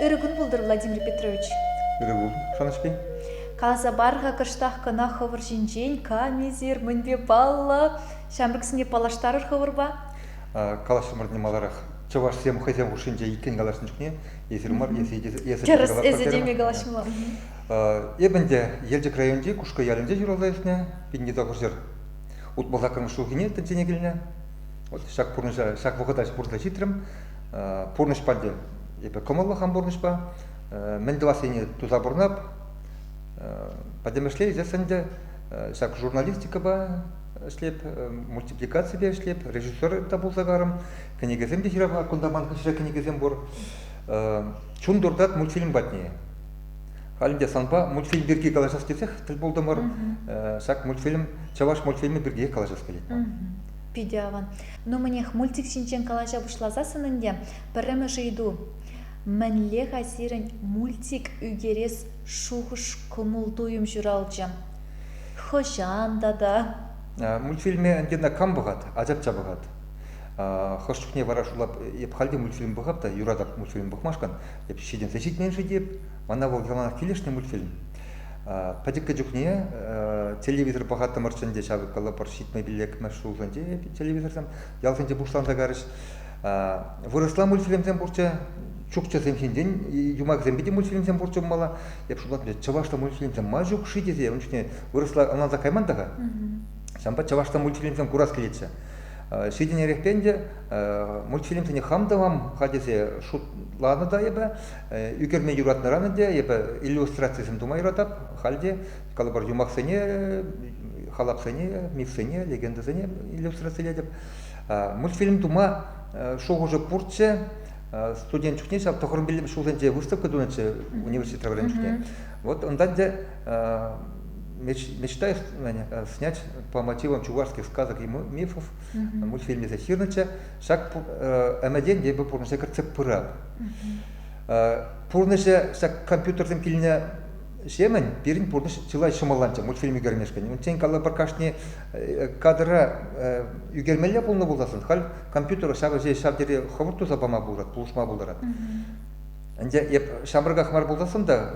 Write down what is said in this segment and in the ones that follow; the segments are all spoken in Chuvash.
Ырӑ кун пултӑр, Владимир Петрович. Ырӑ пул, шанӑҫпи. Каласа пар-ха кӑштах кӑна хӑвӑр ҫинчен, камисӗр, мӗнпе паллӑ? Ҫамрӑксене паллаштарӑр хӑвӑрпа. Калаҫрӑмӑр не маларах. Чӑвашсем хӑйсем хушшинче иккӗн калаҫнӑ чухне Эсир мар, эсӗ те теме калаҫмалла. Эп ӗнтӗ Елчӗк районӗнчи Кушкӑ ялӗнче ҫуралса ӳснӗ, пинне утмӑл ҫулхине тӗнчене килнӗ. Вот ҫак пурнӑҫа, ҫак вӑхӑта пурнӑҫа ҫитрӗм. Пурнӑҫ панде эпӗ кӑмӑллӑхам пурнӑҫпа. Мӗн тӑвас ене туса пурнап. Пӗтӗмӗшле ӗҫесшӗн те ҫак журналистикӑпа ӗҫлеп, мультипликаципе ӗҫлеп, режиссер та пулса карӑм. Кӗнекесем те ҫырапа кунта ман хыҫра кӗнекесем пур. Чун туртать мультфильм патне. Халӗ те санпа мультфильм пирки калаҫас тесех тӗл пултӑмӑр. Ҫак мультфильм чӑваш мультфильмӗ пирки калаҫас килет ман. Питӗ аван. Ну мӗнех, мультик ҫинчен калаҫа пуҫласассӑн ӗнтӗ пӗрремӗш ыйту. Мӗнле-ха сирӗн мультик ӳкерес шухӑш-кӑмӑл-туйӑм ҫуралчӗ? Хӑҫан тата? Мультфильме ӗнтӗ кам пӑхать, ачапча пӑхать. Хӑш чухне вара шула эп халь те мультфильм пӑхап та, юратап мультфильм пӑхмашкӑн, эп ҫитӗнсе ҫитмен-ши теп, мана вӑл яланах килӗшнӗ мультфильм. Пӗчӗккӗ чухне телевизор пӑхаттӑмӑрччӗ ӗнтӗ ҫакӑ калӑпӑр ҫитмӗл пиллӗкмӗш ҫулсенче телевизорсем ялсенче пуҫланса карӗҫ. Вырӑсла мультфильмсем пурччӗ, чукчӑсем ҫинчен юмахӗсемпе те мультфильмсем пурччӗ пулмалла. Эп шутлатӑп, чӑвашлӑ мультфильмсем ма ҫук-ши тесе ун чухне вырӑсла ӑнланса кайман та-ха. Ҫавӑнпа чӑвашлӑ мультфильмсем курас килетчӗ. Ҫитӗнерехрен те мультфильмсене хам тӑвам ха тесе шутланӑ та эпӗ. Ӳкерме юратнӑран ӗнтӗ эпӗ иллюстрацисем тума юратап. Халь те калӑпӑр юмахсене, халапсене, мифсене, легендӑсене иллюстрацилетӗп. Мультфильм тума шухӑшӗ пурччӗ. Студент чухне ҫав тӑхӑр ҫулсенче выставка тунӑччӗ университетра вӗреннӗ чухне. Вот унтан те мечтай снять по мотивам чувашских сказок и мифов мультфильм тесе ҫырнӑччӗ ҫак ӗмӗтен эпӗ пурнӑҫа кӗртсе пырап пурнӑҫа ҫак компьютерсем килнӗ ҫемӗн пирӗн пурнӑҫ чылай ҫӑмӑлланчӗ мультфильм ӳкермешкӗн унччен калӑпӑр кашни кадра ӳкермелле пулнӑ пулсассӑн халь компьютера ҫав ҫав тери хӑвӑрт туса пама пулать пулӑшма пултарать Ӗнтӗ эп ҫамрӑках мар пулсассӑн та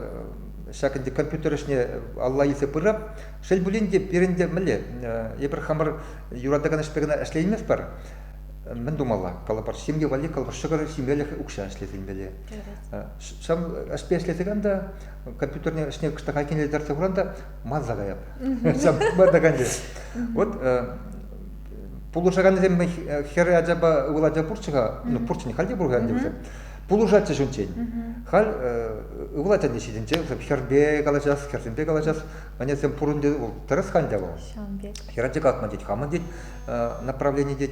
ҫак ӗнтӗ компьютер ӗҫне алла илсе пырап. Шел пулин те, пирӗн те мӗнле, эпир хамӑр юратакан ӗҫпе кӑна ӗҫлейместпӗр. Мӗн тумалла? Калӑпӑр, ҫемье валли, калӑпӑр, ҫӑкӑр ҫимелӗх укҫа ӗҫлесе илмелле. Ҫав ӗҫпе ӗҫлесен та компьютерне ӗҫне кӑштах айккинелтерсе хуран та манса каяп. Ҫав манакан те. Вот пулӑшаканӗсем хӗр ачапа ывӑл ача пурччӗ-ха, ну пурччӗ, халь те пур ӗнтӗ вӗсем. пулӑшатчӗҫ унччен. Халь ывӑл ачасен ҫитӗнче хӗрпе калаҫас, хӗрсемпе калаҫас, ӗнесем пурӑн тет, вӑл тӗрӗс хань вӑл. Ҫавӑн пек. Хӗрача катма тет, хамӑн тет, направлени тет.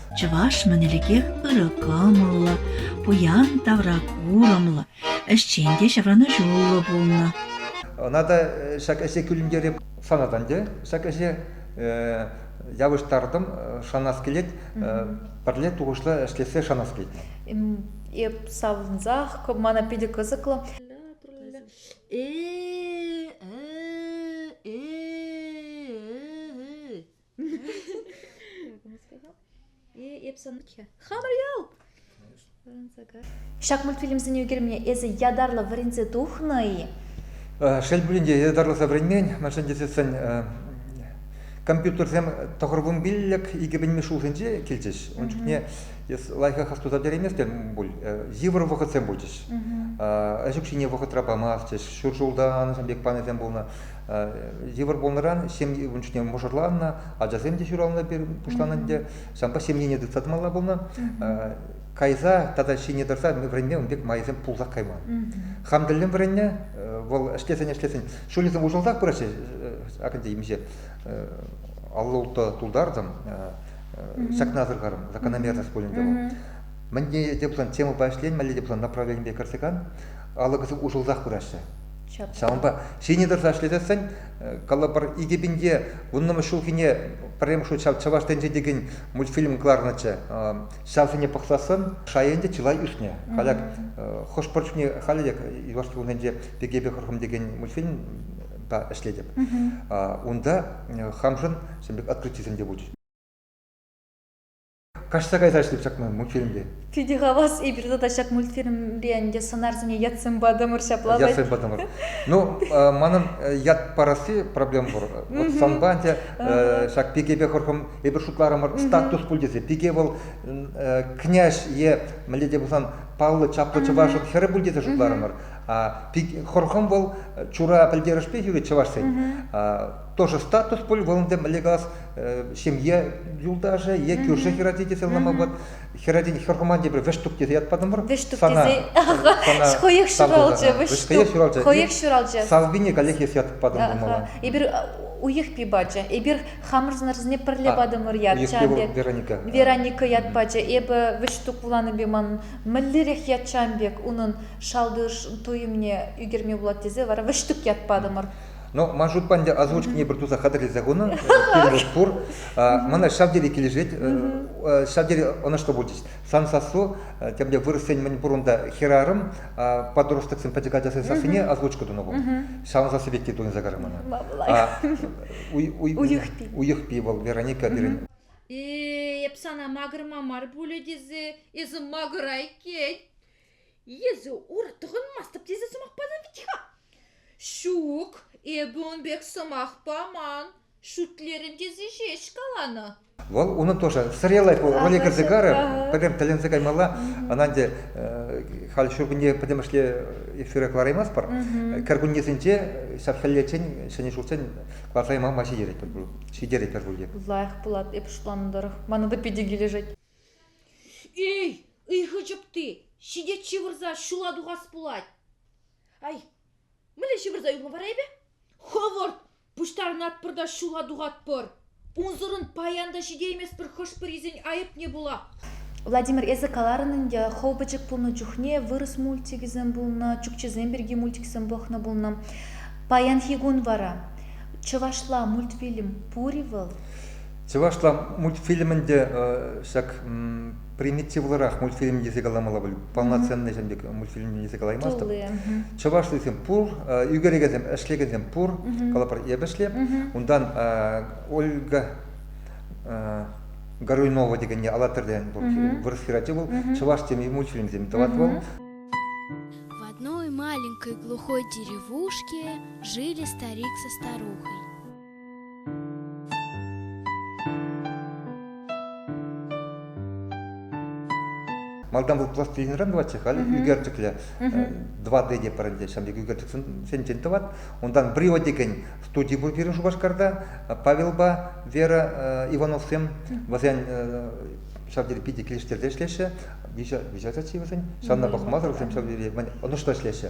Чӑваш-мӗн ӗлӗкех ырӑ кӑмӑллӑ, пуян тавра курӑмлӑ, ӗҫчен те ҫаврӑнӑҫуллӑ пулнӑ. Ӑна та ҫак ӗҫе кӳлӗнтере санат ӗнтӗ. Ҫак ӗҫе явӑҫтартӑм, шанас килет, пӗрле тухӑҫлӑ ӗҫлессе шанас килет. Эп савӑнсах, мана питӗ кӑсӑклӑ. Ҫак мультфильмсене ӳкерме эсӗ ятарлӑ вӗренсе тухнӑ-и? Шел пулин те, ятарласа вӗренмен. Мӗншӗн тесессӗн компьютерсем тӑхӑрвунпиллӗк икӗпӗнми ҫулсенче килчӗҫ. Ун чухне эс лайӑхах астуса пӗтерейместӗн пуль. Йывӑр вӑхӑтсем пулчӗҫ. Ӗҫ укҫине вӑхӑтра памастчӗҫ. Ҫур ҫулта анӑҫан пек планӗсем пулнӑ. Йывӑр пулнӑран ҫемье ун чухне мӑшӑрланнӑ, ачасем те ҫуралнӑ пуҫланнӑ ӗнтӗ. Ҫавӑнпа ҫемьене тытса тӑмалла пулнӑ. Кайса тата ҫине тӑрса вӗренме ун пек майсем пулсах кайман. Хам тӗллӗн вӗреннӗ, вӑл ӗҫлесен-ӗҫлесен ҫулӗсем уҫӑлсах пыраҫҫӗ, Акинтей темиҫе аллӑ-улттӑ тултартӑм, ҫакна асӑрхарӑм, закономерность пулӗнчӗ вӑл. Мӗнне те пулсан темӑпа ӗҫленмелле те пулсан направленипе кӗрсе кан, алӑкӗсем уҫӑлсах пыраҫҫӗ. Ҫавӑнпа ҫине тӑрса ӗҫлесессӗн калӑпӑр икӗ пинте вуннӑмӗш ҫулхине пӗрремӗш хут ҫав Чӑваш тӗнчи текен мультфильм кӑларнӑччӗ. Ҫавсене пӑхсассӑн шай ӗнтӗ чылай ӳснӗ. Халӗ хӑш-пӗр чухне халӗ те юлашки кунсенче пекепе хӑрхӑм текен мультфильмпа ӗҫлетӗп. Унта хамшӑн ҫын пек открытисем те пулчӗҫ. Каҫса кайса ӗҫлеп ҫакна мультфильмпе. Питӗ хавас, эпир тата ҫак мультфильмпе ӗнтӗ сӑнарсене ятсем патӑмӑр ҫапла. Ятсем патӑмӑр. Ну, манӑн ят парасси проблема пур. Вот санпа ӗнтӗ ҫак пикепе хӑрхӑм эпир шутларӑмӑр статус пуль тесе. Пике вӑл князь е мӗнле те пулсан паллӑ чаплӑ чӑвашӑн хӗрӗ пуль тесе шутларӑмӑр. Хӑрхӑм вӑл чура пӗлтерӗшпе ҫӳрет чӑвашсен. Тоже статус пуль, вӑл ӗнтӗ мӗнле калас, ҫемье юлташӗ е кӳршӗ хӗрачи тесе ӑнланма пулать. Хӗрачин хӗрхуман тепре вӗҫтук тесе ятпатӑмӑр. Вӗҫтук тесе хӑйех ҫуралчӗ, вӗҫтук. Хӑйех ҫуралчӗ. Салвине каллех эс ятып патӑмӑр мала. Эпир уйӑх пи пачӗ. Эпир хамӑрсенӗрсене пӗрле патӑмӑр ят. Вероника. Вероника ят пачӗ. Эпӗ вӗҫтук вуланипе ман мӗнлерех ят чам пек унӑн шалти туйӑмне ӳкерме пулать тесе вара вӗҫтук ят патӑмӑр. Но ман шутпа ӗнтӗ озвучкине пӗр туса хатӗрлесе хунӑн кирлӗ пур. Мана ҫав тери килӗшет, ҫав тери ӑнӑҫлӑ пулчӗҫ. Сан сассу, тем те вырӑссен мӗн пур унта хӗрарӑм, подростоксен пӗчӗк ачасен сассине озвучка тунӑ ку. Ҫавӑн сасси пек те туйӑнса кайрӗ мана. Уйӑхпи. Уйӑхпи вӑл Вероника пирӗн. Эп сана макӑрма мар пулӗ тесе эсӗ макӑрай кет. Если ура тӑхӑнмастӑп тесе сӑмах панӑ вӗт-ха. Ҫук, эпӗ ун пек сӑмах паман. Шӳтлерӗм тесе ҫеҫ каланӑ. Вӑл унӑн тоже сыреллай ку роли кӗрсе карӗ, пӗтӗм тӗлӗнсе каймалла. Ӑна ӗнтӗ халь ҫуркунне пӗтӗмӗшле эфира кӑлараймастпӑр. Кӗркуннесенче ҫав хӗллеччен ҫӗнӗ ҫуртсен кӑларса яма май ҫитеретпӗр ҫитеретпӗр пуль те. Лайӑх пулать, эпӗ шутланӑ тӑрӑх. Мана та питӗ килӗшет. Эй, ыйхӑ чӑпти, ҫитет ҫывӑрса ҫула тухас пулать. Ай, мӗнле ҫывӑрса юлма вара эпӗ? Хӑвӑрт, пуҫтарӑнатпӑр та ҫула тухатпӑр. Унсӑрӑн паян та ҫитейместпӗр хӑш-пӗрисен айӑпне пула. Владимир, эсӗ каларӑн ӗнтӗ, хӑв пӗчӗк пулнӑ чухне вырӑс мультикӗсем пулнӑ, чукчесем пирки мультиксем пӑхнӑ пулнӑ. Паянхи кун вара чӑвашла мультфильм пур-и вӑл? Чӑвашла мультфильмӗн те ҫак примитивлӑрах мультфильм тесе каламалла пуль. Полноценный ҫын пек мультфильм тесе калаймастӑп. Чӑвашлисем пур, ӳкерекесем, ӗҫлекенсем пур, калӑпӑр эпӗшле. Унтан Ольга Горюнова текенне алатыртен пур вырӑс хӗрачи вӑл. Чӑваш теми мультфильмсем тӑвать вӑл. В одной маленькой глухой деревушке жили старик со старухой. Малтан вӑл пластилинран тӑватчӗ, халӗ ӳкерчӗклӗ 2D те парӑнчӗ. Ҫавӑн пек ӳкерчӗксенчен тӑват. Унтан Брио текен студи пур пирӗн Шупашкарта. Павелпа Вера Ивановсем вӗсен ҫав тери питӗ килӗштерсе ӗҫлеҫҫӗ. Виҫӗ виҫе ачи вӗсен. Ҫавна пӑхмасӑр вӗсем ҫав тери ӑнӑҫлӑ ӗҫлеҫҫӗ.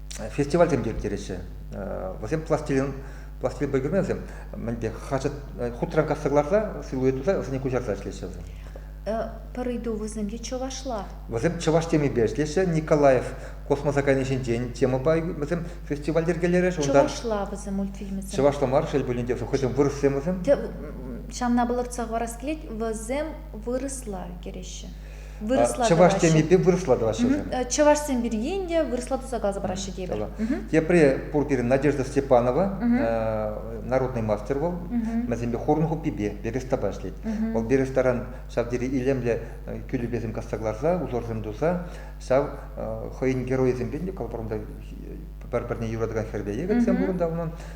фестивальсем те ирттереҫҫӗ. Вӗсем пластилин пластилинпа ӳкермен вӗсем мӗнпе хаҫат хутран касса кӑларса силуэт туса вӗсене куҫарса ӗҫлеҫҫӗ вӗсем. Пӗр ыйту вӗсемте чӑвашла. Вӗсем чӑваш темипе ӗҫлеҫҫӗ. Николаев космоса кайни ҫинчен темӑпа вӗсем фестиваль йӗркелерӗҫ. Чӑвашла вӗсем мультфильмӗсем. Чӑвашла мар, шел пулин те, хӑйсем вырӑссем вӗсем. Ҫавна палӑртса хӑварас килет, вӗсем вырӑсла кӗреҫҫӗ. чӑваш темипе вырӑсла тӑваҫҫӗ вӗсем. чӑвашсем пирки ӗнтӗ вырӑсла туса каласа параҫҫӗ тепӗр. Тепре пур пирӗн Надежда Степанова народный мастер вӑл. Вӗсемпе хурӑн хуппипе берестапа ӗҫлет. Вӑл берестаран ҫав тери илемлӗ кӳлӗпесем касса кӑларса, узорсем туса ҫав хӑйӗн геройӗсемпе те калӑпӑрунта пӗр-пӗрне юратакан хӗрпе егерьсем пурӑнта унӑн.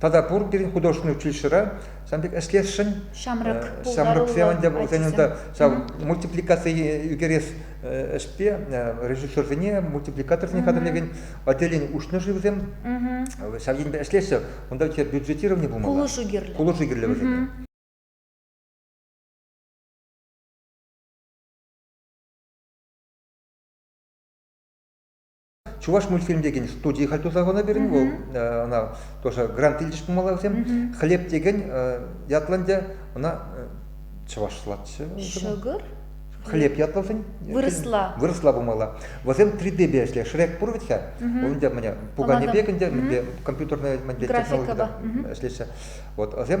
Тата пур пирӗн художественнӑй училищӗра ҫавӑн пек ӗҫлесшӗн. Ҫамрӑк ҫамрӑксем ӗнтӗ вӗсен унта ҫав мультипликаци ӳкерес ӗҫпе режиссерсене мультипликаторсене хатӗрлекен отделени уҫнӑ-ши вӗсем? Ҫав енпе ӗҫлеҫҫӗ. Унта бюджетировани пулмалла. Пулӑшу кирлӗ. Пулӑшу кирлӗ вӗсене. Чуваш мультфильм текен студи халь туса хунӑ пирӗн вӑл. Ӑна тоже грант илчӗҫ пулмалла вӗсем. Хлеб текен ятлӑ ӗнтӗ, ӑна чӑвашлатчӗ. Шӑкӑр? хлеб ятлӑшӗн вырӑсла вырӑсла пулмалла вӗсем 3D-бе ӗҫле Шрек пур вӗт-ха унта міне пукане пек ӗнтӗ мӗнпе компьютерная технологида ӗҫлеҫҫӗ вот вӗсем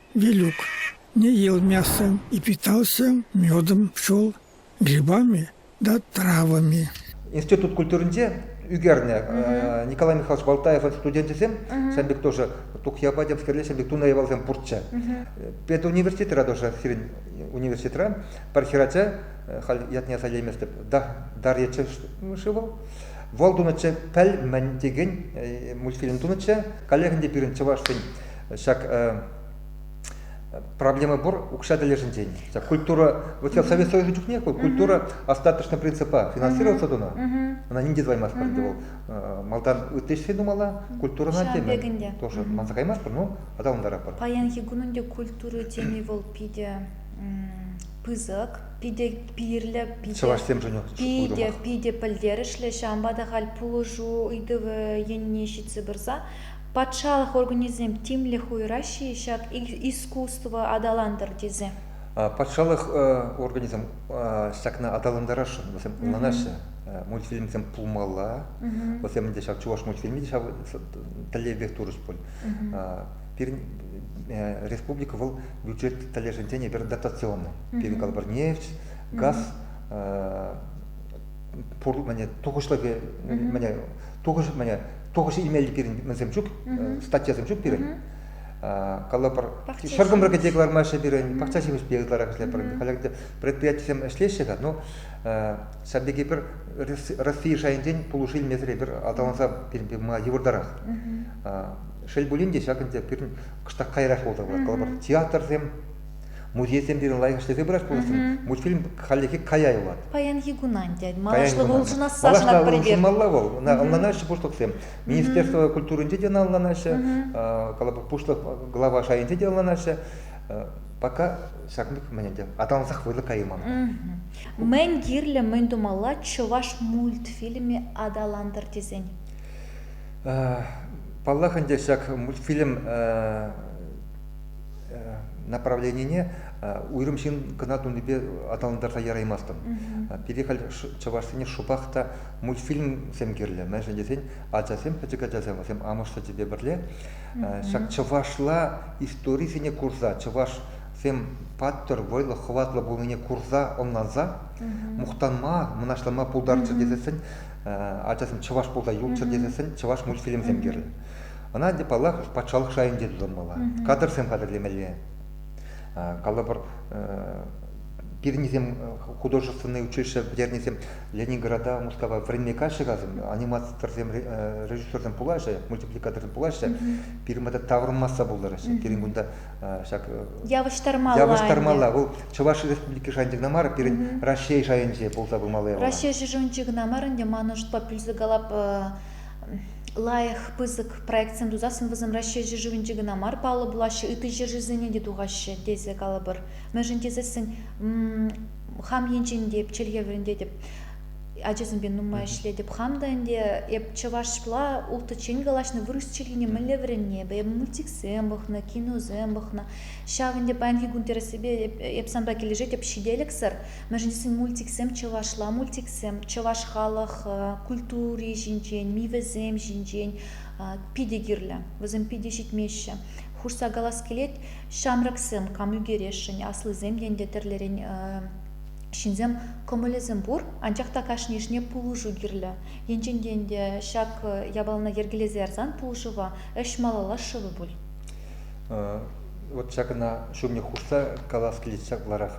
Вилюк илмесен и питался медом, пчел, грибами да травами. Институт культуринче ӳкернӗ Николай Михайлович Балтаев студенчӗсем сан пек тоже тухья патемскерле сан пек туна явалсем пурччӗ. Педуниверситетра тоже сирӗн университетра пӗр хӗрача халь ятне сайлайместеп да дар ече шыво вал тунӑччӗ пӗл мӗн текен мультфильм тунӑччӗ коллегин те пирӗн чӑваш фин Ҫак проблема пур укҫа тӗлӗшӗнчен. Ҫак культура, вот Совет Союза чухнех вӑл культура остаточно принципа финансироваться тунӑ. Она нинде тӑваймастпӑр ӗнтӗ вӑл. Малтан ытти ӗҫре тумалла, культурӑна теме тоже манса каймастпӑр, ну аталантаратпӑр. Паянхи кунӑн те культура теми вӑл питӗ пысӑк, питӗ пирлӗ, питӗ, питӗ, питӗ пӗлтерӗшлӗ. Ҫавӑнпа та халь пулӑшу ыйтӑвӗ енне ҫитсе пырса Патшалӑх органӗсем тимлӗх уйӑраҫҫӗ-и ҫак искусство аталантӑр тесе? Патшалӑх органӗсем ҫакна аталантарасшӑн, вӗсем ӑнланаҫҫӗ. Мультфильмсем пулмалла, вӗсем те ҫав чӑваш мультфильмӗ те ҫав тӗллевпех турӗҫ пуль. Пирӗн республика вӑл бюджет тӗлӗшӗнчен эпир дотационный. Пирӗн калӑпӑр нефть, газ пурлӑхӗ тухӑҫлӑхӗ Тухӑҫ мӗне тухӑҫ илмелли пирӗн мӗнсем ҫук, статьясем ҫук пирӗн. Калӑпӑр, ҫӗркӑмра кӗте кӑлармаҫҫӗ пирӗн, пахча ҫимӗҫпе ытларах ӗҫлетпӗр. Халь предприятисем ӗҫлеҫҫӗ-ха, но ҫав пирки пӗр Россия шайӗнчен пулӑшу илмесӗр эпир аталанса пыма йывӑртарах. Шел пулин те, ҫак ӗнтӗ пирӗн кӑштах каярах пулса пырать. Калӑпӑр, театрсем Музейсем пирӗн лайӑхӑҫлесе пырать пулӑттӑм. Мультфильм хальлӗхе кая юлать. Паянхи кунан, тет. Малашлӑх улшӑнасса шанатпӑр эпир. Улшӑнмалла вӑл. Ӑнланаҫҫӗ пуҫлӑхсем. Министерство культуринче те ӑнланаҫҫӗ. Пуҫлӑх глава шайӗнче те ӑнланаҫҫӗ. Пока ҫак мӗн ӗнтӗ аталансах вӑйлӑ кайман. Мӗн кирлӗ, мӗн тумалла чӑваш мультфильмӗ аталантӑр тесен? Паллах ӗнтӗ ҫак мультфильм направленине уйрӑм ҫын кӑна тунипе аталантарса яраймастӑн. Пире халь чӑвашсене шӑпах та мультфильмсем кирлӗ, мӗншӗн тесен ачасем, пӗчӗк ачасем, вӗсем амӑш сӗчӗпе пӗрле ҫак чӑвашла историсене курса, чӑвашсем паттӑр, вӑйлӑ, хӑватлӑ пулнине курса, ӑнланса, мухтанма, мӑнаҫланма пултарччӑр тесессӗн, ачасем чӑваш пулса юлччӑр тесессӗн чӑваш мультфильмсем кирлӗ. Ӑна, ӗнтӗ, паллах, патшалӑх шайӗнче тытӑнмалла, кадрсем хатӗрлемелле. Калӑпӑр, пирӗннисем художественнӑй училище пӗтернисем Ленинграда, Мускава вӗренме каҫҫӗ касӑм, аниматорсем, режиссерсем пулаҫҫӗ, мультипликаторсем пулаҫҫӗ. Пирӗн пата таврӑнмасса пултараҫҫӗ. Пирӗн кунта ҫак явӑҫтармалла. Явӑҫтармалла. Вӑл Чӑваш Республики шайӗнче кӑна мар, пирӗн Раҫҫей шайӗнче пулса пымалла. Раҫҫей шешӗнче кӑна мар ӗнтӗ, ман ӑшӑтпа пӳлсе калап лайӑх пысӑк проектсем тусассӑн вӗсем Раҫҫей ҫӗршывӗнче кӑна мар паллӑ пулаҫҫӗ ытти ҫӗршывсене те тухаҫҫӗ тесе калӑпӑр мӗншӗн тесессӗн хам енчен те эп чӗлхе вӗрентетӗп ачасемпе нумай ӗҫлетӗп хам та ӗнтӗ эп чӑвашла улттӑччен калаҫнӑ вырӑс чӗлхине мӗнле вӗренни эпӗ эп мультиксем пӑхнӑ киносем пӑхнӑ ҫав ӗнтӗ паянхи кун тӗрӗссипе эп санпа килӗшетӗп ҫителӗксӗр мӗншӗн мультиксем чӑвашла мультиксем чӑваш халӑх культури ҫинчен мивӗсем ҫинчен питӗ кирлӗ вӗсем питӗ ҫитмеҫҫӗ хушса калас килет ҫамрӑксем кам ӳкересшӗн аслисем те ӗнтӗ тӗрлӗрен ҫынсем кӑмӑлӗсем пур анчах та кашнийӗшне пулӑшу кирлӗ енчен те ӗнтӗ ҫак япалана йӗркелесе ярсан пулӑшӑва ӗҫ малалла шывӗ пуль Вот ҫакна ҫумне хушса калас килет ҫапларах.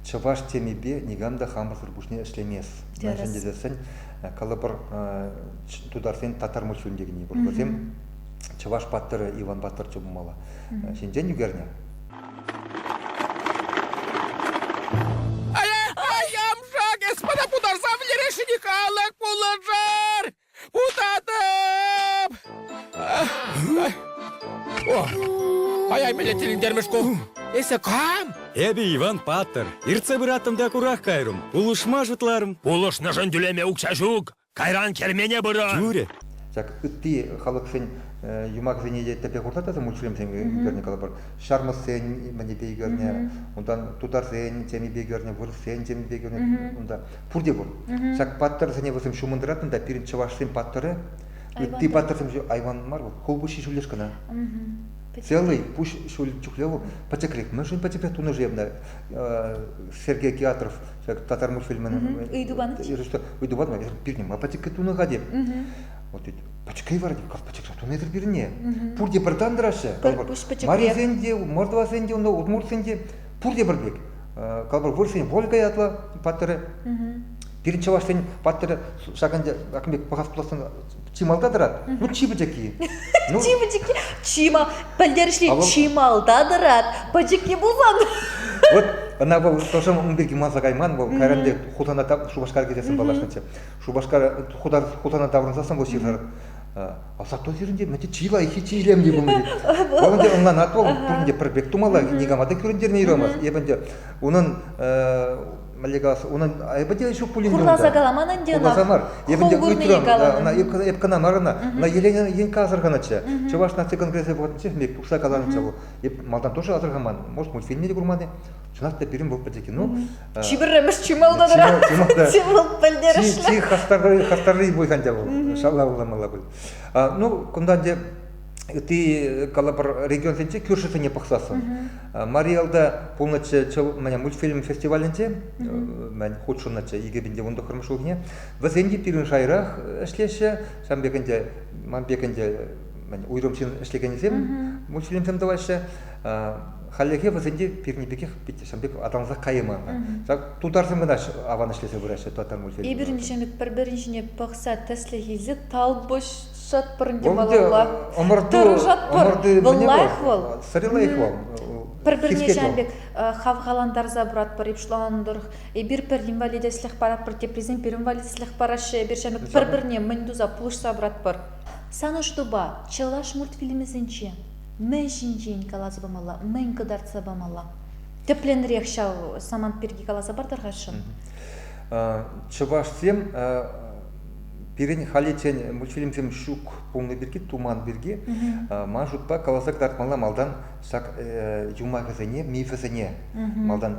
Чӑваш темипе никам та хамӑрсӑр пуҫне ӗҫлемест. Мӗншӗн тесен калӑпӑр тутарсен татар мультфильм текенни пур. Вӗсем чӑваш паттӑрӗ Иван паттӑр чул пулмалла. Ҫинчен ӳкернӗ. Ай, ай, амша, господа, путарса вӗлерешене калӑк пулӑшар! Утатӑп! Кая-мӗне тӗлӗнтермӗш ку. Эсӗ кам? Эпӗ Иван паттӑр. Иртсе пыраттӑм та курах кайрӑм. Пулӑшма шутларӑм. Пулӑшнӑшӑн тӳлеме укҫа ҫук. Кайран кермене пырӑр. Тӳрӗ. Ҫак ытти халӑхсен юмахӗсене те тӗпе хурса мультфильмсем ӳкернӗ калӑпӑр. Ҫармӑссен мӗнӗпе ӳкернӗ, унтан тутарсен темипе ӳкернӗ, вырӑссен темипе ӳкернӗ, унта пурте пур. Ҫак паттӑрсене вӗсем ҫумӑн тӑратнӑ та пирӗн чӑвашсен паттӑрӗ, ытти паттӑрсем айван мар вӑл, хулпуҫҫи ҫӳллӗш кӑна. Целый пуҫ ҫӳл чухле вӑл пӗчӗкрех. Мӗншӗн пӗчӗкрех тунӑ-ши ӑна Сергей Киатров ҫак татар мультфильмӗн ыйту панӑ ыйту панӑ пирне ма пӗчӗкрех тунӑ-ха тет. Вот ведь пӗчӗкрей вара тет, как пӗчӗкрех тунӑ-тӗр пирне. Пурте пӗр тан тӑраҫҫӗ. Марисен те, мордвасен те, удмуртсен те пурте пӗр пек. Калӑпӑр, вырӑсен Вольга ятлӑ паттӑрӗ. Пирӗн чӑвашсен паттӑрӗ ҫакӑн пек пӑхас пулассан чи малта тӑрать. Ну, чи пӗчӗкки. Ну, чи пӗчӗкки, чи мал, пӗлтерӗшле, чи малта тӑрать, пӗчӗкки пулман. Вот ӑна вӑл хӑшӗ ун пирки манса кайман, вӑл кайран те Хусана Шупашкар кӗтесӗн паллашнӑччӗ. Шупашкар Хусана таврӑнсассӑн вӑл ҫырсӑр А сатто сирӗнте мӗнте чи лайӑххи, чи илемли пулнӑ тет. Вӑл ӗнтӗ ӑнланатвӑл, пуринте пӗр пек тумалла, никама та кӳрентернӗ юрамасть. Эп ӗнтӗ унӑн мӗнле калас, унӑн айӑпӗ те ҫук пулин те унта. Хурласа каламан ӗнтӗ ӑна. Хурласа мар. Эп ӗнтӗ ыйтрӑм, ӑна эп кӑна мар ӑна, ӑна Елена Енкка асӑрханӑччӗ. Чӑваш наци конгресӗ вӑхӑтӗнче мек тухса каланӑччӗ вӑл. Эп малтан тоже асӑрхаман, может, мультфильмне те курман-и? Чӑнах та пирӗн вӑл пӗчӗк кино. Чи пӗрремӗш чи малта тӑрать. Чи малта. Чи малта пӗлтерӗшлӗ. Чи хастарри хастарри пуль хан тяв. Шалла улламалла пуль. Ну, кунта те ытти калӑпӑр регионсенче кӳршӗсене пӑхсассӑн. Мариялда пулнӑччӗ чӑл мӗне мультфильм фестивалӗнче, мӗн хутшӑннӑччӗ 2019 ҫулхине. Вӗсем те пирӗн шайрах ӗҫлеҫҫӗ. Ҫам пек ӗнтӗ, ман пек ӗнтӗ уйрӑм ҫын ӗҫлекенӗсем мультфильмсем тӑваҫҫӗ. Хальлӗхе вӗсен те пирӗн пекех пит ҫавӑн пек аталансах кайман ҫак тутарсем кӑна аван ӗҫлесе пыраҫҫӗ тутартан мультфильм эпир ҫемӗк пӗр-пӗрин ҫине пӑхса тӗслӗх илсе талпӑшатпӑр те малалла тӑрӑшатпӑр вӑл лайӑх вӑл сӑри лайӑх вӑл пӗр-пӗрне ҫавӑн пек хавхалантарса пыратпӑр ипшланӑ тӑрӑх эпир пӗр инвалидетлӗх паратпӑр теприсем пӗр инвалидетлӗх параҫҫӗ эпир ҫавӑн пек пӗр-пӗрне мӗн туса пулӑшса пыратпӑр сан ӑштупа чӑваш мультфильмӗсенче мӗн ҫинчен каласа памалла, мӗн кӑтартса памалла. Тӗплӗнрех ҫав самант пирки каласа партӑрхасшӑн. Чӑвашсем пирӗн халиччен мультфильмсем ҫук пулнӑ пирки, туман пирки, ман шутпа каласа кӑтартмалла малтан ҫак юмахӗсене, мифӗсене малтан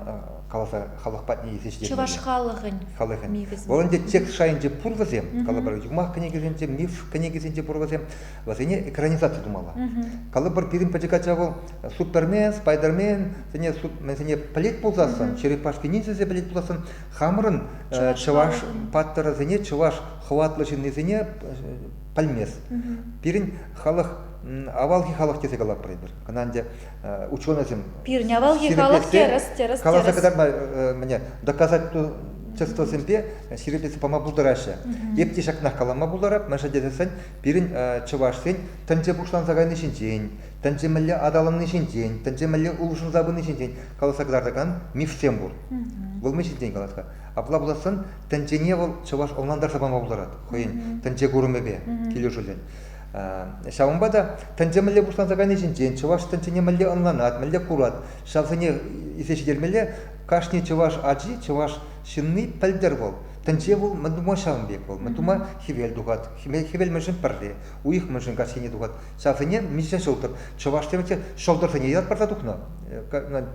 каласа халӑх патне илсе ҫитермелле. Чӑваш халӑхӗн, халӑхӗн. Мифӗсем. Вӑл ӗнтӗ текст шайӗнче пур вӗсем, калӑпӑр, юмах кӗнекисенче, миф кӗнекисенче пур вӗсем. Вӗсене экранизаци тумалла. Калӑпӑр, пирӗн пӗчӗк ача вӑл Супермен, Спайдермен, сене сене пӗлет пулсассӑн, черепашки ниндзясе пӗлет пулсассӑн, хамӑрӑн чӑваш паттӑрӗсене, чӑваш хӑватлӑ ҫыннисене пӗлмест. Пирӗн халӑх авалхи халӑх тесе калатпӑр эпир. Кӑна ӗнтӗ ученӑйсем пирӗн авалхи халӑх терӗс, терӗс, каласа кӑтартма мӗне доказать обществосемпе ҫирӗплетсе пама пултараҫҫӗ. Эп те ҫакнах калама пултарап, мӗншӗн тесен Пирӗн чӑвашсен тӗнче пуҫланса кайни ҫинчен, тӗнче мӗнле аталанни ҫинчен, тӗнче мӗнле улшӑнса пыни ҫинчен каласа кӑтартакан мифсем пур. Вӑл мӗн ҫинчен калас-ха? Апла пулассан тӗнчене вӑл чӑваш ӑнлантарса пама пултарать хӑйӗн тӗнче курӑмӗпе килӗшӳллӗн. Ҫавӑнпа та тӗнче мӗнле пуҫланса кайни ҫинчен, чӑваш тӗнчене мӗнле ӑнланать, мӗнле курать, ҫавсене илсе ҫитермелле кашни чӑваш ачи, чӑваш ҫынни пӗлтӗр вӑл. Тӗнче вӑл мӗн тума ҫавӑн пек вӑл, мӗн тума хӗвел тухать, хӗвел мӗншӗн пӗрре, уйӑх мӗншӗн каҫхине тухать, ҫавсене миҫе ҫӑлтӑр, чӑваш тӗвӗ те ҫӑлтӑрсене ятпарса тухнӑ,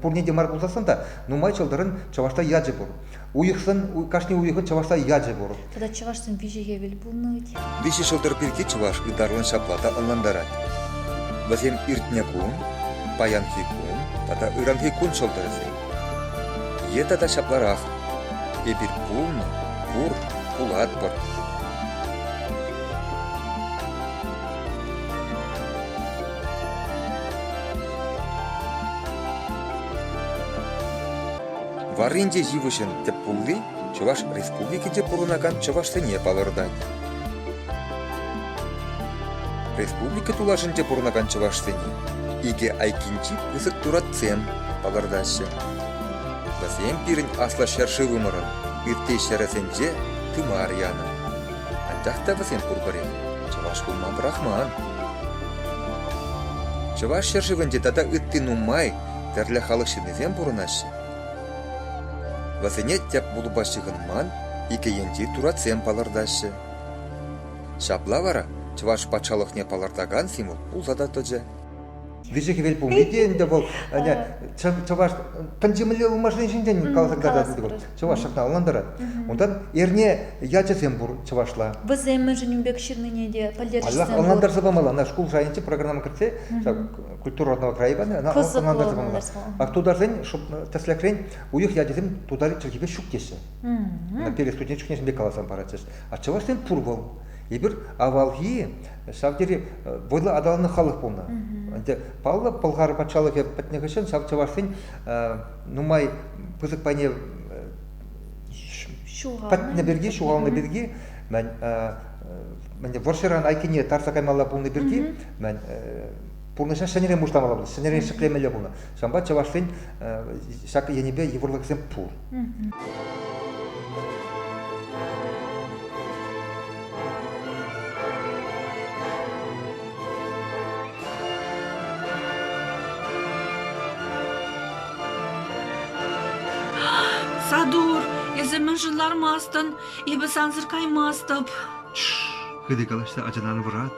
пурне те мар пулсассӑн та нумай ҫӑлтӑрӑн чӑвашла ячӗ пур, уйӑхсӑн кашни уйӑхӑн чӑвашла ячӗ пур. Тата чӑвашсен виҫӗ хӗвел пулнӑ вӗт. Виҫӗ ҫӑлтӑр пирки чӑваш ытарлӑн ҫапла та ӑнлантарать. Вӗсем иртнӗ кун, паянхи кун тата ыранхи кун ҫӑлтӑрӗсем. Е тата ҫапларах: «Эпир пулнӑ, пур, пулатпӑр». Варрин те йывӑҫӑн тӗп хулли Чӑваш Республикинче пурӑнакан чӑвашсене палӑртать. Республика тулашӗнче пурӑнакан чӑвашсене икӗ айккинчи пысӑк туратсем палӑртаҫҫӗ. Вӗсем пирӗн аслӑ ҫӗршывӑмӑрӑн ытти ҫӗрӗсенче тымар янӑ. Анчах та вӗсем пурпӗрех чӑваш пулма пӑрахман. Чӑваш ҫӗршывӗнче тата ытти нумай тӗрлӗ халӑх ҫыннисем пурӑнаҫҫӗ. Вӗсене тӗп клуба ҫыхӑнман икӗ енчи туратсем палӑртаҫҫӗ. Ҫапла вара Чӑваш патшалӑхне палӑртакан символ пулса та тӑчӗ. Виҫӗ хӗвел пулни те ӗнтӗ вӑл чӑваш пӗнчемелле ылмашни ҫинчен каласа кӑтартать чӑваш ҫакна ӑнлантарать. Унтан эрне ячӗсем пур чӑвашла. Вӗсем мӗншӗн ун пек ҫырнине те пӗлтерӗшсем пур. Ӑнлантарса памалла. Ӑна шкул шайӗнче программа кӗртсе культурӑна краевая ӑна ӑнлантарса панӑ а тутарсен тӗслӗхрен уйӑх ячӗсем тутар чӗлхипе ҫук теҫҫӗ перед студент чухне сӗмпе каласан паратчӗҫ а чӑвашсен пур вӑл эпир авалхи ҫав тери вӑйлӑ аталаннӑ халӑх пулнӑ ӗнтӗ паллӑ пӑлхар патшалӑхӗ пӗтнӗ хыҫҫӑн ҫав чӑвашсен нумай пысӑк пайне пӗтнӗ пирки ҫухалнӑ пирки мӗн вӑрҫӑран айккине тарса каймалла пулнӑ пирки мӗн пурнӑҫа ҫӗнӗрен пуҫтармалла ҫӗнӗрен ҫӗклемелле пулнӑ ҫавӑнпа чӑваш ен ҫак енӗпе йывӑрлӑхсем пур. Садур, эсӗ мӗншӗн лармастӑн? Эпӗ сансӑр каймастӑп. Хытӑ калаҫса ачана ан вӑрат.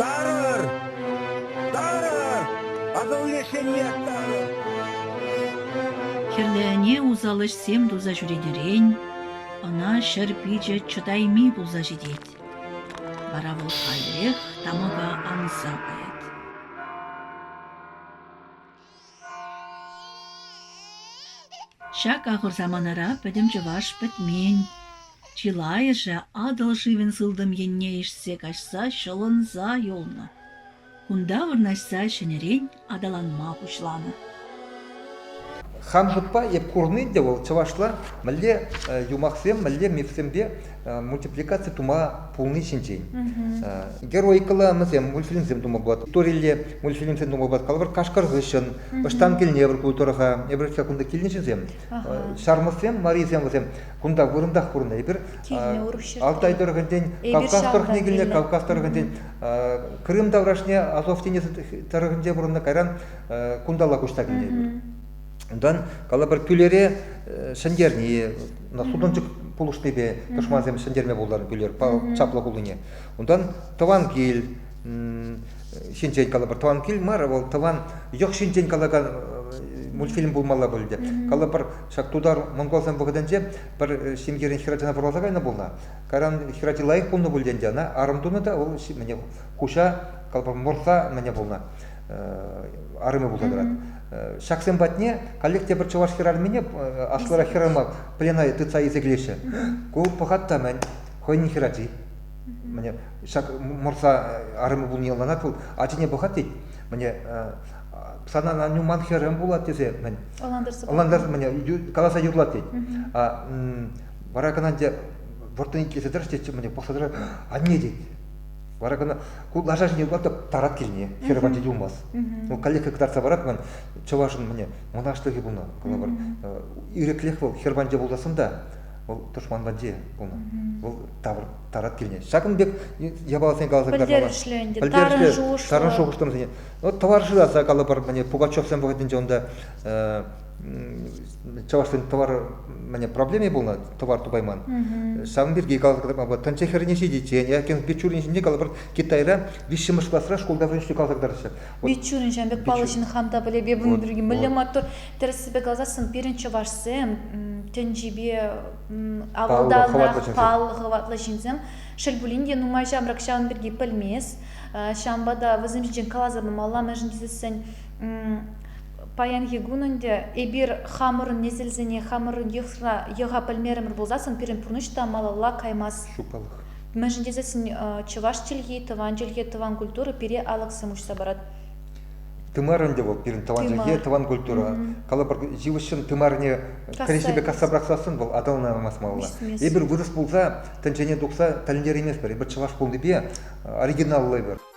Тарӑр! Тарӑр! Акӑлне ҫемьех тарӑр! Хӗрлӗ ӗне усал ӗҫсем туса ҫӳретерен ӑна ҫӗр пичӗ чӑтайми пулса ҫитет. Вара вӑл каллех тамӑка анса каять. Ҫак ахӑр саманара пӗтӗм чӑваш пӗтмен. Чылайӑшӗ Атӑл шывӗн сылтӑм енне ишсе каҫса ҫӑлӑнса юлнӑ. Кунта вырнаҫса ҫӗнӗрен аталанма пуҫланӑ. Хан шутпа эп курни те вӑл чӑвашла мӗнле юмахсем, мӗнле мифсемпе мультипликаци тума пулни ҫинчен. Героикӑлланӑсем мультфильмсем тума пулать, историлле мультфильмсем тума пулать. Калӑпӑр, Кашкӑр хыҫҫӑн, Ӑҫтан килнӗ эпӗр ку тӑрӑха, эпир ҫав кунта килнӗҫӗсем. Ҫармӑссем, марисем вӗсем кунта вырӑнтах курнӑ. Эпир Алтай тӑрӑхӗнчен Кавказ тӑрӑхне килнӗ, Кавказ тӑрӑхӗнчен Крым таврашне Азов тинӗсӗ тӑрӑхӗнче пурӑннӑ, кайран кунталла куҫса килнӗ эпир. Унтан калӑпӑр пӳлере ҫӗнтерни, сутӑнчӑк пулӑшнипе тӑшмансем ҫӗнтерме пултарнӑ пӳлер чаплӑ хулине. Унтан тӑван кил ҫинчен калӑпӑр тӑван кил мар, вӑл тӑван йӑх ҫинчен калакан мультфильм пулмалла пуль те. Калӑпӑр, ҫак тутар монголсен вӑхӑтӗнче пӗр ҫемьерен хӗрачана вӑрласа кайнӑ пулнӑ. Кайран хӗрачи лайӑх пулнӑ пуль те ӗнтӗ ӑна, арӑм тунӑ та, вӑл мӗне хуҫа, калӑпӑр, морса мӗне пулнӑ. арӑмӗ пулса тӑрать. Ҫаксем патне коллективпӗр чӑваш хӗрарӑмне аслӑрах хӗрарӑма пленаре тытса илсе килеҫҫӗ. Ку пӑхать та мӗн, хӑйӗн хӗрачи. Міне, ҫак мӑрса арӑмӗ пулни яланах вӑл ачине пӑхать тет. Міне, сана Аню ман хӗрем пулать тесе мӗн. Ӑнлантарсӑр міне, каласа юрлать тет. А вара кӑна ӗнтӗ вӑрттӑн иккелесе тӑрӑш тет, міне, пӑхса тӑрать, анне тет. Вара кӑна ку лаша ҫине ватӑп тарат килне хӗрӗ патне юлмасть. Ну, каллех кӑтартса парать ман чӑвашӑн мӗне мӑнаҫлӑхӗ пулнӑ. Кӑна пар ирӗклех вӑл хӗр патне пултасӑн та вӑл тӑшман патне пулнӑ. Вӑл тавӑр тарат килне. Ҫакӑн пек япаласене каласа кӑтартмалла. Пӗлтерӗшлӗ ӗнтӗ, тарӑн шухӑшлӑ. Тарӑн шухӑшлӑ вӗсене. Ну, товар шыраса калӑпӑр, мӗне Пугачевсем вӑхӑтӗнче унта чӑвашсен товар мане проблеми пулнӑ товар тупайман ҫавӑн пирки каласа тӑнча хӗрне ҫитиччен якен бичурин ҫинче калӑпӑр китайра виҫҫӗмӗш класра шкулта вӗренсе каласа кӑтараҫҫӗ бичурин ҫан пек паллӑҫын хам та пӗлепе bunun пирки мӗнле маттур тӗрӗссипе каласассӑн пирӗн чӑвашсем тӗнчипе авалтанах паллӑ хӑватлӑ ҫынсем шел пулин те нумай ҫамрӑк ҫавӑн пирки пӗлмест ҫавӑнпа та вӗсем ҫинчен каласа памалла мӗншӗн тесессӗн Паянхи кун ӗнтӗ эпир хамӑрӑн несӗлсене хамӑрӑн йӑха пӗлмерӗмӗр пулсассӑн пирӗн пурнӑҫ та малалла каймасть. Ҫупалӑх. Мӗншӗн тесессӗн чӑваш чӗлхи, тӑван чӗлхе, тӑван культура пире алӑксем уҫса парать. Тымар ӗнтӗ вӑл пирӗн тӑван чӗлхе, тӑван культура. Калӑпӑр, йывӑҫҫӑн тымарне кӗреҫепе касса пӑрахсассӑн вӑл аталанаймасть малалла. Эпир вырӑс пулса тӗнчене тухса тӗлӗнтерейместпӗр. Эпир чӑваш пулнипе оригиналлӑ эпир.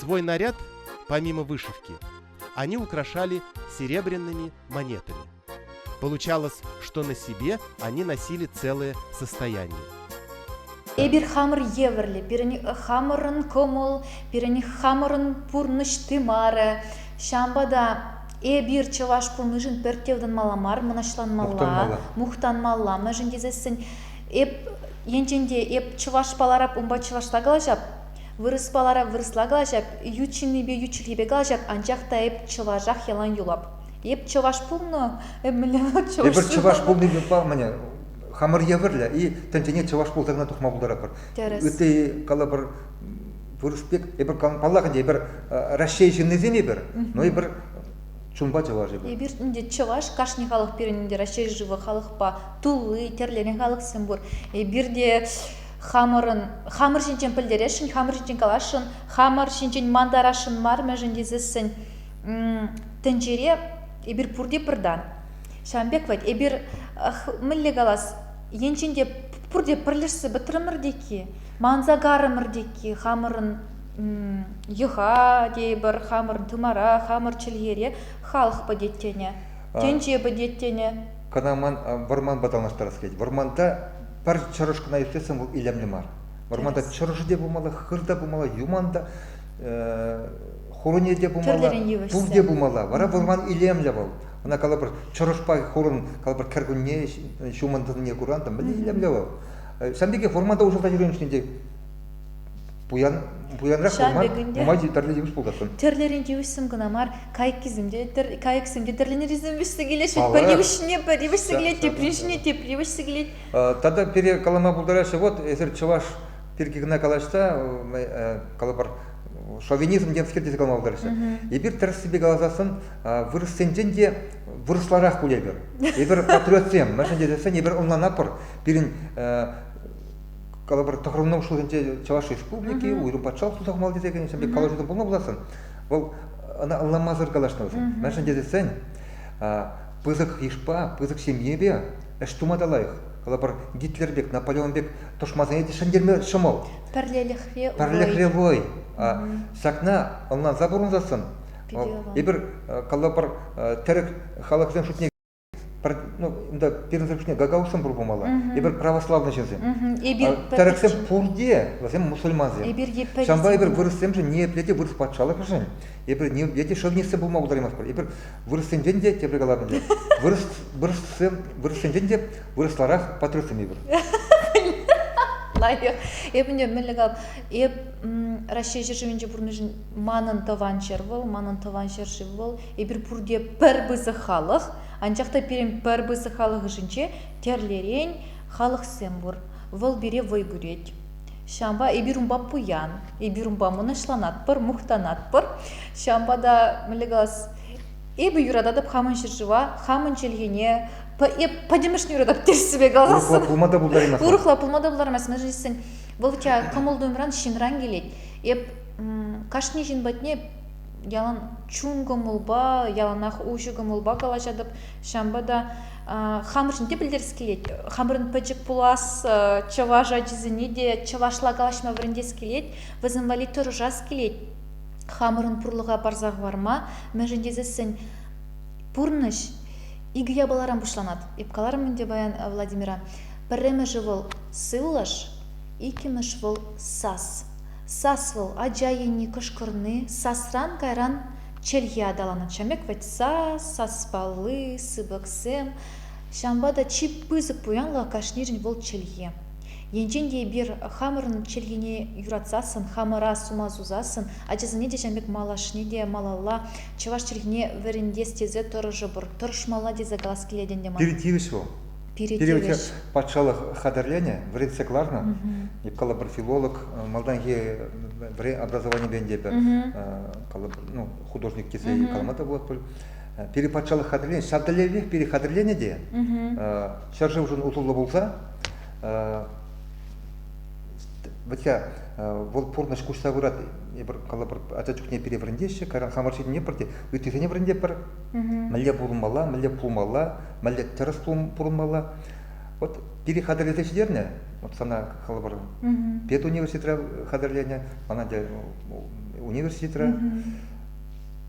Свой наряд, помимо вышивки, они украшали серебряными монетами. Получалось, что на себе они носили целые состояния. Эпир хамӑр евӗрлӗ, пирӗн хамӑрӑн кӑмӑл, пирӗн хамӑрӑн пурнӑҫ тымарӗ. Ҫавӑнпа та эпир чӑваш пулнишӗн пӗртте ытанмалла мар, мӑнаҫланмалла, мухтанмалла, мӗншӗн тесессӗн эп енчен те эп чӑваш паларап, унпа чӑвашла калаҫап, Вырӑспа лара вырӑсла калаҫап, ют ҫыннипе ют чӗлхепе калаҫап, анчах та эп чӑвашах ялан юлап. Эп чӑваш пулнӑ, эп мӗнле вӑл чӑваш? Эпир чӑваш пулни ютла мӗне хамӑр евӗрлӗ и тӗнчене чӑваш пултарӑвне тухма пултаратпӑр. Тӗрӗс. Ытти калӑпӑр вырӑс пек эпир паллах ӗнтӗ эпир Раҫҫей ҫыннисем эпир, но эпир чунпа чӑваш эпир. Эпир ӗнтӗ чӑваш, кашни халӑх пирӗн ӗнтӗ Раҫҫей шывӗ халӑхпа тулли, тӗрленӗ халӑхсем пур. Эпир те Хамӑрӑн, хамӑр ҫинчен пӗлтересшӗн, хамӑр ҫинчен каласшӑн, хамӑр ҫинчен мантарасшӑн мар мӗншӗн тесессӗн тӗнчере эпир пурте пӗртан. Ҫавӑн пек вӗт, эпир мӗнле калас, енчен те пурте пӗрлешсе пӗтрӗмӗр тейкки, манса тейкки хамӑрӑн йӑха тейӗпӗр, хамӑрӑн тымара, хамӑр чӗлхере халӑх пӗтет тенӗ, тӗнче пӗтет тенӗ. Кӑна ман вӑрманпа танлаштарас килет. Вӑрманта Пӗр чӑрӑш кӑна ирттерсен вӑл илемлӗ мар. Вӑрманта чӑрӑшӗ те пулмалла, хыр та пулмалла, юман та, хуруне те пулмалла, пул те пулмалла. Вара вӑрман илемлӗ вӑл. Ӑна калӑпӑр чӑрӑшпа хурӑн калӑпӑр кӗркунне ҫумӑн тӑнине куран та мӗн илемлӗ вӑл. Ҫавӑн пекех вӑрманта уҫӑлса ҫӳрен те пуян пуянрах пулма нумай тӗрлӗ йывӑҫ пултартӑн. Тӗрлӗрен йывӑҫсем кӑна мар, кайӑксем те кайӑксем те тӗрлӗрен йывӑҫсем килеҫҫӗ. Пӗр йывӑҫне пӗр йывӑҫсем килет, тепри ҫине тепри йывӑҫсем килет. Тата пире калама пултараҫҫӗ, вот эсир чӑваш пирки кӑна калаҫса калӑпӑр шовинизм темскер тесе калама пултараҫҫӗ. Эпир тӗрӗссипе каласассӑн вырӑссенчен те вырӑсларах пуль эпир. Эпир патриотсем, мӗншӗн тесессӗн эпир ӑнланатпӑр пирӗн калӑпӑр тӑхӑрмӗн ҫулӗнче Чӑваш Республики уйрӑм патшалӑх сусахмал тесе кӗнӗ калаҫу пулнӑ пуласӑн вӑл ӑна ӑнламасӑр калаҫнӑ вӗсем мӗншӗн тесен пысӑк йышпа пысӑк ҫемьепе ӗҫ тума та лайӑх калӑпӑр Гитлер пек Наполеон пек тӑшмансене те ҫӗнтерме ҫӑмӑл пӗрлӗхре пӗрлӗхре вӑй ҫакна ӑнланса пурӑнсассӑн эпир калӑпӑр тӗрӗк халӑхсен шутне пӗр, ну, унта пирӗн тӑрӑхне гагаузсем пур пулмалла. Эпир православный ҫынсем. Эпир тӗрӗксем пурте вӗсем мусульмансем. Эпир епле Ҫавӑнпа эпир вырӑссемшӗн ниепле те вырӑс патшалӑхӗшӗн эпир ниепле те шовинистсем пулма пултараймастпӑр. Эпир вырӑссенчен те тепре калабӑн те вырӑс вырӑссем вырӑссенчен те вырӑсларах патриотсем эпир. Лайӑх. Эп ӗнтӗ мӗнле кал, эп Раҫҫей ҫӗршывӗнче пурӑннӑшӑн манӑн тӑван ҫӗр вӑл, манӑн тӑван ҫӗршыв вӑл, Эпир пурте пӗр пысӑк халӑх, анчах та пирӗн пӗр пысӑк халӑх ӑшӗнче тӗрлӗрен халӑхсем пур. Вӑл пире вӑй кӳрет. Ҫавӑнпа эпир унпа пуян, эпир унпа мӑнаҫланатпӑр, мухтанатпӑр. Ҫавӑнпа та мӗнле калас, эпӗ юрататӑп хамӑн ҫӗршыва, хамӑн чӗлхене, эп пӗтӗмӗшне юратап тӗрӗссипе каласан. Урӑхла пулма та пултараймасть. Урӑхла пулма та пултараймасть. Мӗншӗн тесен вӑл у тебя кӑмӑл-туйӑмран ҫынран килет. Эп кашни ҫын патне ялан чун кӑмӑлпа яланах уҫӑ кӑмӑлпа калаҫатӑп ҫавӑнпа та хамӑршӑн те пӗлтерес килет хамӑрӑн пӗчӗк пулас чӑваш ачисене те чӑвашла калаҫма вӗрентес килет вӗсем валли тӑрӑшас килет хамӑрӑн пурлӑха парса хӑварма мӗншӗн тесессӗн пурнӑҫ икӗ япаларан пуҫланать эп каларӑм ӗнтӗ паян владимира пӗрремӗшӗ вӑл сывлӑш иккӗмӗш вӑл сас Сас вӑл ача енне кӑшкӑрни, сасран кайран чӗлхе аталанать. Ҫамрӑк вӗт сас, саспалли, сыпӑксем. Ҫавӑнпа та чи пысӑк пуянлӑх кашнирӗн вӑл чӗлхе. Енчен те эпир хамӑрӑн чӗлхене юратсассӑн, хамӑра сума сусассӑн, ачасене те ҫавӑн пек малашне те малалла чӑваш чӗлхине вӗрентес тесе тӑрӑшӑпӑр, тӑрӑшмалла тесе калас килет ӗнтӗ мана. Пирӗн тивӗҫ вӑл, Пирӗнте патшалӑх хатӗрленӗ вӗретсе кӑларнӑ. Калӑпӑр филолог малтанхи вӗре образованипен те пӗр ну, художник тесе калама та пулать пуль. Пире патшалӑх хатӗрленӗ, ҫав тӗллевпех пире хатӗрленӗ те ҫӗршывшӑн усӑллӑ пулса вӗтя вӑл пурнӑҫ куҫса пырать эпир калӑпӑр ача чухне пире вӗрентеҫҫӗ кайран хамӑр ҫине пӗр те ыттисене вӗрентепӗр мӗнле пурӑнмалла мӗнле пулмалла мӗнле тӗрӗс пурӑнмалла. Вот пире хатӗрлесе ҫитернӗ, вот сана калӑпӑр, педуниверситетра хатӗрленӗ, мана те университетра.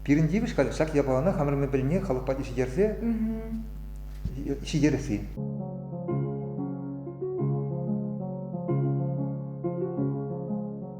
Пирӗн тивӗҫ халь ҫак япалана хамӑр мӗн пӗлни халӑх патне ҫитерсе ҫитересси.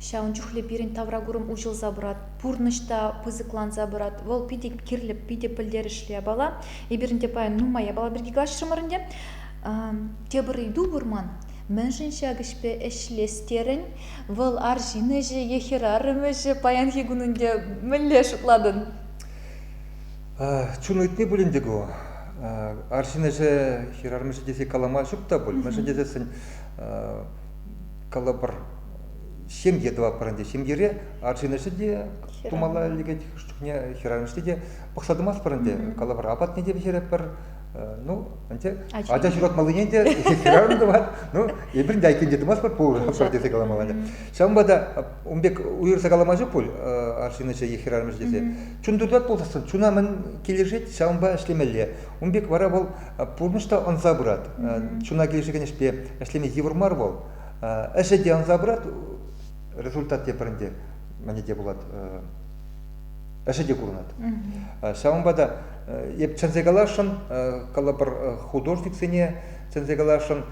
Ҫавӑн чухлӗ пирӗн тавракурӑм уҫӑлса пырать, пурнӑҫ та пысӑкланса пырать. Вӑл питӗ кирлӗ, питӗ пӗлтерӗшлӗ япала. Эпирӗн те паян нумай япала пирки калаҫрӑмӑр ӗнтӗ. Тепӗр ыйту пур ман. Мӗншӗн ҫак ӗҫпе ӗҫлес терӗн? Вӑл арҫын ӗҫӗ е хӗрарӑм ӗҫӗ? Паянхи кун ӗнтӗ мӗнле шутлатӑн? Чун ыйтни пулин те ку. Арҫын ӗҫӗ, хӗрарӑм ӗҫӗ тесе калама ҫук та пуль. Мӗншӗн тесессӗн калӑпӑр, ҫемье тӑватпӑр ӗнтӗ. Ҫемьере арҫынӑшӗ те тумалла лекет, чухне хӗрарӑмӗшне те пӑхса тӑмастпӑр ӗнтӗ, калавар апатне те пӗҫеретпӗр. Ну, ӗнтӗ ача ҫуратмаллине те хӗрарӑм тӑвать. Ну, эпир те айккинче тӑмастпӑр пур тесе каламалла. Ҫавӑнпа та ун пек уйӑрса калама ҫук пуль арҫынӑшӗ е хӗрарӑмӗшӗ тесе. Чун тытать пулсассӑн чуна мӗн килӗшет, ҫавӑнпа ӗҫлемелле. Ун пек вара вӑл пурнӑҫ та ӑнса пырать. Чуна килӗшекен ӗҫпе ӗҫлеме йывӑр мар вӑл. Ӗҫӗ те ӑнса пырать, результат те пӗр ӗнтӗ, мӗне те пулат, ӗҫӗ те курӑнать. Ҫавӑнпа та эп чӗнсе каласшӑн, калӑпӑр художниксене чӗнсе каласшӑн,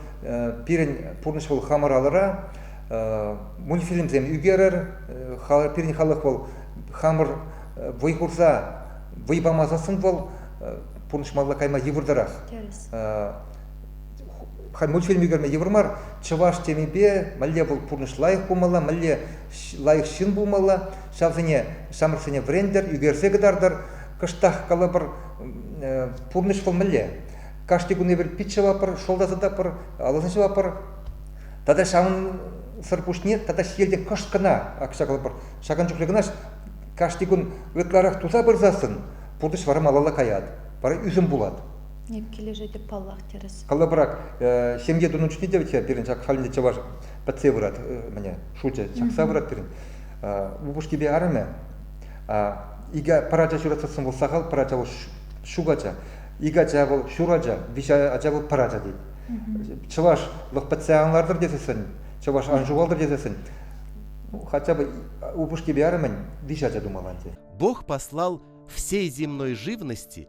пирӗн пурнӑҫ вӑл хамӑр алӑра, мультфильмсем ӳкерӗр, пирӗн халӑх вӑл хамӑр вӑй хурса, вӑй пама сассӑн вӑл пурнӑҫмалла кайма йывӑртарах. халь мультфильм ӳкерме йывӑр мар чӑваш темипе мӗнле вӑл пурнӑҫ лайӑх пулмалла мӗнле лайӑх ҫын пулмалла ҫавсене ҫамрӑксене вӗрентӗр ӳкерсе кӑтартӑр кӑштах калӑпӑр пурнӑҫ вӑл мӗнле кашни кун эпир пит ҫӑвапӑр шӑл та сӑтапӑр алӑсем ҫӑвапӑр тата ҫавӑнсӑр пуҫне тата ҫиелте кӑшт кӑна акҫа калӑпӑр ҫакӑн чухлӗ кӑна кашни кун ытларах туса пырсассӑн пурнӑҫ вара малалла каять вара ӳсӗм пулать Эп килӗшетӗп паллах, тӗрӗс. Калӑпӑрах, ҫемье тунӑ чухне те вӗт пирӗн ҫак халӗнче чӑваш пӗтсе пырать, мӗне, шучӗ чакса пырать пирӗн. Упӑшкипе арӑмӗ икӗ пӗр ача ҫуратсассӑн вӑл сахал, пӗр ача вӑл ҫук ача, икӗ ача вӑл ҫур ача, виҫӗ ача вӑл пӗр ача тет. Чӑваш лӑх пӗтсе ан лартӑр тесессӗн, чӑваш ан ҫухалтӑр тесессӗн, хотя бы упӑшкипе арӑмӗн виҫӗ ача тумалла ӗнтӗ. Бог послал всей земной живности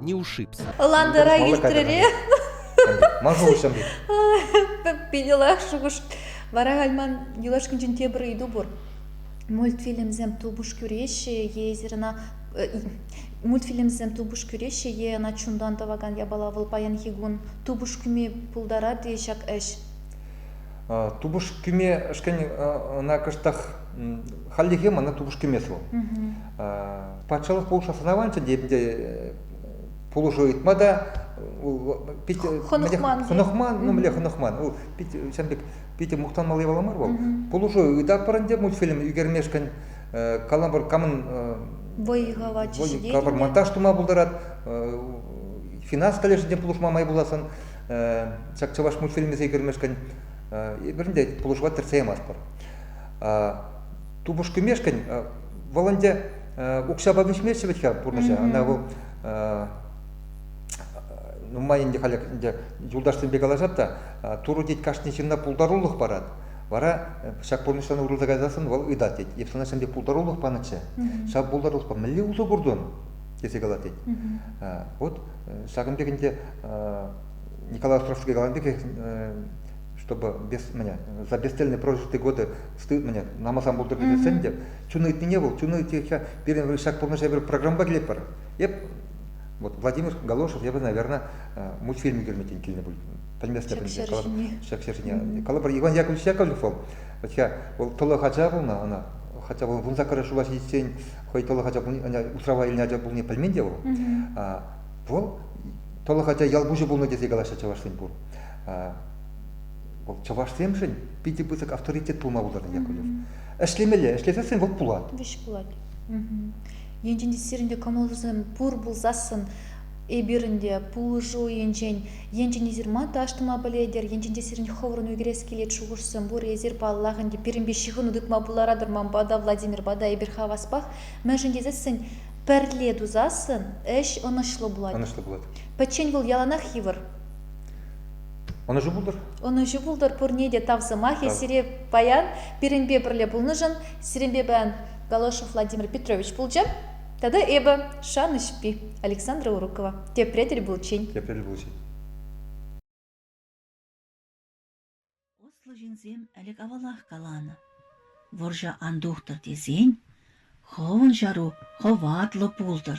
не ушибся. Ландыра илтрӗре? Ман шухӑшӑм Питӗлах шухӑш. Вара гальман юлашкинчен тепӗр ыйту пур. Мультфильмсем тупӑш кӳреҫҫӗ е ӑна мультфильмсем тупӑш кӳреҫҫӗ е ӑна чунтан тӑвакан япала вӑл паянхи кун тупӑш кӳме пултарать-и ҫак ӗҫ? тупӑш кӳме ӗшкен ӑна кӑштах хальлӗхе мана тупӑш кӳмест вӑл патшалӑх пулӑшу сӑнаванчӗ те пулӑшу ыйтма та пит хӑнӑхман ну мӗнле хӑнӑхман ол пит ҫавӑн пек питӗ мухтанмалли япала мар вӑл пулӑшу ыйтатпӑр ӗнтӗ мультфильм ӳкермешкӗн калампӑр камӑн вӑй-хӑват вӑй калӑпӑр монтаж тума пултарать финанс колледжӗнчен пулӑшма май пуласӑн Ҫак чӑваш мультфильмӗ сикӗрмешкӗн эпир те пулӑшӑва кӗртсе ямастпӑр. Тупӑш-кӳмешкӗн вӑл ӗнтӗ укҫапа вӗҫмест вӗт-ха пурнӑҫа. Ӑна вӑл нумай ӗнтӗ халь ӗнтӗ юлташсемпе калаҫат та Турӑ тет кашни ҫынна пултарулӑх парать. Вара ҫак пурнӑҫран урӑлса кайсассӑн вӑл ыйтать тет, эп сана ҫемье пултарулӑх панӑччӗ, ҫав пултарулӑхпа мӗнле усӑ куртӑн? тесе калать тет. Вот Ҫакӑн пек ӗнтӗ Николай Островский каланӑ пекех, чтобы без меня, за бесцельные прожитые годы стыд меня намасан пултӑр тесен те чун ыйтнине вӑл чун ыйтиччен пирӗн ҫак пурнӑҫа пӗр программа килетпӗр. Эп вот Владимир Галошев, я бы, наверное, мультфильм ӳкерме килнӗ пуль. Пӗлместӗп ӗнтӗ. Ҫак ҫерҫине. Калӑпӑр, Иван Яковлевич Яковлев вӑл, хотя вӑл тӑлӑх ача пулнӑ, ӑна хотя вӑл вунсаккӑрӗ шула ҫитиччен хӑй тӑлӑх ача пулни усрава илнӗ ача пулни пӗлмен те вӑл. Вӑл тӑлӑх ача ял пуҫӗ пулнӑ тесе калаҫҫӗ чӑвашсен пур. Вӑл чӑвашсемшӗн питӗ пысӑк авторитет пулма пултарнӑ Яковлев. Ӗҫлемелле, ӗҫлесессӗн вӑл пулать. Вӗҫ пулать. Енчен те сирӗн те кӑмӑлсем пур пулсассӑн эпирӗн те пулӑшу енчен енчен эсир ман тӑваш тума пӗлетӗр енчен те сирӗн хӑвӑрӑн ӳкерес килет шухӑшсем пур эсир паллах ӗнтӗ пирӗнпе ҫыхӑну тытма пултаратӑр манпа та владимирпа та эпир хаваспах мӗншӗн тесессӗн пӗрле тусассӑн ӗҫ ӑнӑҫлӑ пулать ӑнӑҫлӑ пулать пӗччен вӑл яланах йывӑр ӑнӑҫу пултӑр ӑнӑҫу пултӑр пурне те тав сӑмахӗ сире паян пирӗнпе пӗрле пулнӑшӑн сирӗнпе паян Голошев Владимир Петрович пулчӗ Тата эпӗ, шанӑҫпи, Александра Урукова, тепре тӗл пулчен. Тепре тӗл пулчен. Ӑслӑ ҫынсем ӗлӗк авалах каланӑ. Вӑрҫӑ ан тухтӑр тесен хӑвӑн ҫару хӑватлӑ пултӑр.